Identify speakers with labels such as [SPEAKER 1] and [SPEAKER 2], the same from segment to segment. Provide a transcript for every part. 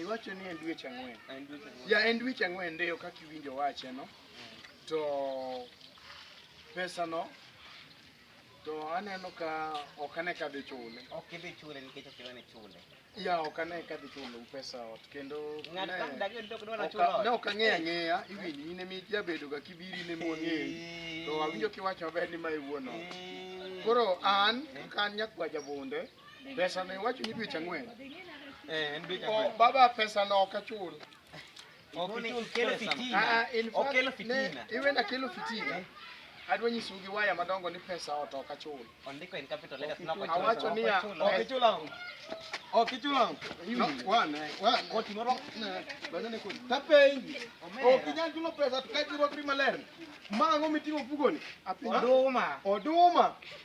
[SPEAKER 1] iwacho ni en dweche ang'wen ya en dweche ang'wen ndeyo kaka iwinjo wache no to pesa no to aneno ka ok ane ka dhi chule ok idhi chule nikech ok idhi chule Ya ok ane ka dhi chulo pesa ot kendo Ng'ato ka mdak en tok dwara chulo ot. ne ok ang'eyo ang'eya iwinj in ema ijabedo ga kibiri in ema wang'eyi to awinjo kiwacho maber ni ma e wuon ot. Koro an kaka an nyakwa jabunde pesa ne iwacho ni dweche ang'wen. Eh, en dweche O, ang'wen. baba pesa no ok achul Okelo fitina. Iwe na kelo fitina. Adwa nyisu gi waya madongo ni pesa oto ka chul. Ondiko in capital letters na kwa chul. Awacho ni ya ok chula. Ok chula. No one one. Koti moro. Bana ne koti. Tape ingi. Ok inyal chulo pesa to kaji rwakri maler. Ma ngo mitingo fugoni. Oduma. Oduma.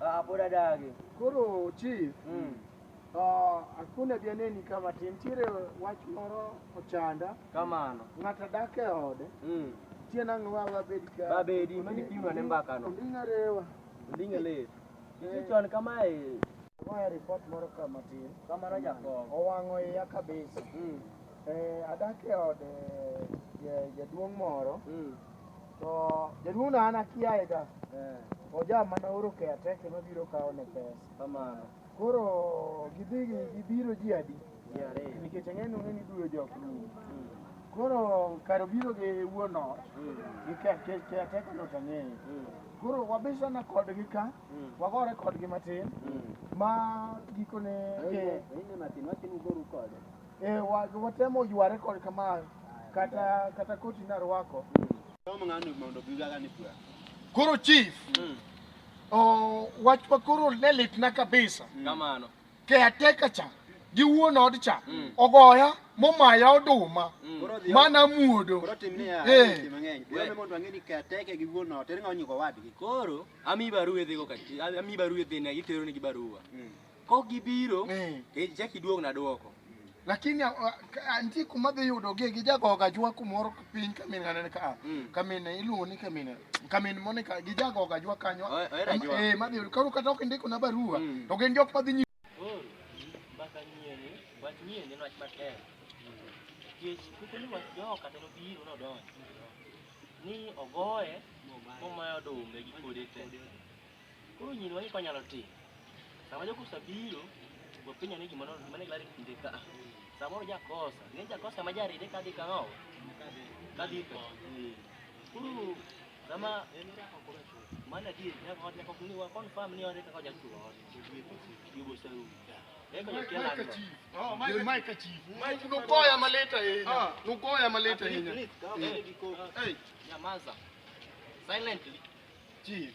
[SPEAKER 1] Ah, pod adagi. Koro chief, Mm. ah, akuna dianeni kama ti nitiere wach moro ochanda, Kamano. ng'ato dak e ode, Mm. tie nang'o wa wabed ka. Babedi, mani pimo ane mbakano. Onding'a rewa. Onding'e lit. Isi chon kamae. Agoyo ripot moro kama tin. Kamano jakom. Owang'o iya kabisa. Mm. Eh, adak e ode ja- jaduong' moro. Mm. To jaduong' na an akiaye ga. Eh. Oja mana oro ke ateke ma biro kawo ne pesa. Kamano. Koro gidhi gibiro ji adi? Ji ariyo. Nikech ang'eyo ni ni duro jok ni. Hmm. Koro karo biro gi wuon ot. Hmm. Gi ke ke ateke no tang'eyo. Hmm. Koro wabisana kodgi ka. Wagore kodgi matin. Ma gikone. Ine matin watin ugoru kode. Eh, wa- watemo yware kod kama kata kata koti narwako. Somo ng'ano mondo gigaga ni pura. Koro chief, Mm. oh, wachwa koro ne litna kabisa. Kamano. Caretaker cha gi wuon od cha Mm. ogoya momaya oduma Mm. Koro dhi. mana muodo. Koro tim ni ya. Eh. Tim mang'eny. Dhi ome mondo ang'e ni kateke gi wuon ot. Ere ng'awo nyiko wadgi. Koro ami barua idhigo ka ami barua idhine iteronigi barua. Mm. Kok gibiro, eh. eh ichak iduogna dwoko. Lakini nitie kuma dhi yudogie gi jagoga jwa kumoro piny kamin anene ka mm. kamin iluongo ni kamin kamin Monica gi jagoga jwa kanyo eh madhi yudo koro kata ok indiko na barua mm. to gin jok madhi nyi mbaka nyieni wach nyieni wach matek kech kuko ni wach jo kata no biro no donjo ni ogoye momayo dume gi kode te Koro nyiri wang'e kwa nyalo timo. Sama jogo osebiro, wapenjo ni gima nono, gima ne gilari kinde ka. Samoro jakosa, ne jakosa ma jaride ka dhi kang'o? Ka dhi ko. Koro sama mano adier nyaka ot nyaka ni wa confirm ni ore kaka jachuo ot. Yugo saru. Eko nyakia lando. Oh, Mike, Mike chief. Mike nugoya maleta ahinya. Nugoya maleta ahinya. Nyamaza. Silently. Chief.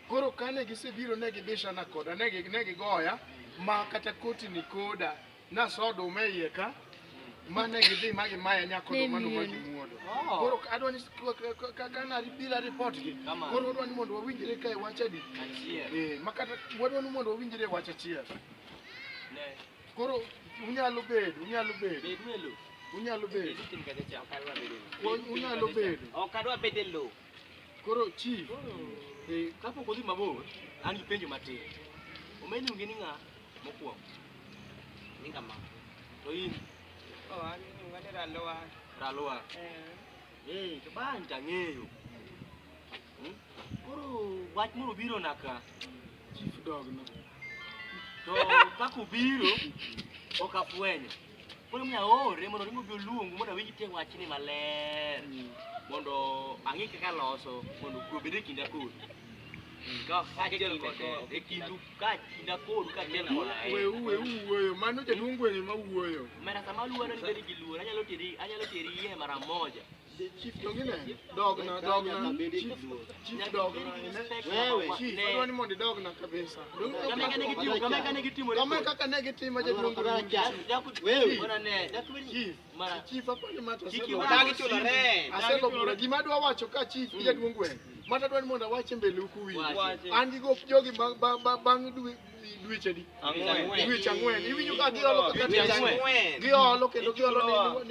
[SPEAKER 1] Koro kane gisebiro ne gibishana koda, ne gigoya ma kata koti ni koda naso oduma iye ka mane gidhi ma gimaya nyako oduma no ma gimuodo. Oh. Koro adwa ni kaka na bila report gi. Koro adwa ni mondo wawinjre kae wacha di. Eh, makata wadwa ni mondo wawinjre wacha chiel. Ne. Koro unyalo bedo, unyalo bedo. Bedo e lo. Unyalo bedo. Unyalo bedo. Ok adwa bedo e lo. Koro chief, eh, kapok odhi mabor, an gi penjo matin. Omeni luongi ni ng'a mokwongo? Ni kama. To in? Oh, an iluonga ni Ralowa. Ralowa. Eh. Eh, to bang' tang'eyo. Hmm? Koro wach moro biro na ka. Chief dog no. To kako biro, ok afwenyo. Koro mi aore mondo ringo bi oluongu mondo awinj tiend wachni maler. Mondo ang'e kaka loso mondo kwe obed e kinda kodu. Ka kaachiel kode e kindu ka kinda kodu kaachiel koda e. Weu, weu wuoyo. Mano jaduong' gweng' ema wuoyo. Mera sama aluoro ni bedi gi luor, anyalo teri, anyalo teri iye mara moja. Chief to ngine dogna dogna chief chief dogna ine wewe chief adwani mondo idogna kabisa kama kane gitimo kama kane gitimo kama kaka ne gitimo jaduong wewe ona ne chief mara chief apani mata chief dagi chulo re asego bura gima adwa wacho ka chief jaduong wewe mata adwani mondo awache mbele ukuwi an gi gop jogi bang bang bang dwechadi dwech ang'wen iwinjo ka giolo kaka giolo kendo giolo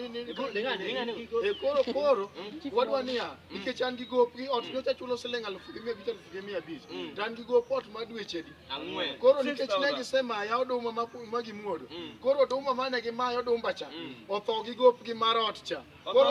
[SPEAKER 1] e koro koro wadwa niya nikech an gi gopgi ot nyocha chulo siling alufu gi mia abich alufu gi mia abich to an gi gop ot ma dwechadi koro nikech ne gisemaya oduma ma gimuodo koro oduma mane gimaya odumba cha otho gi gopgi mar ot cha koro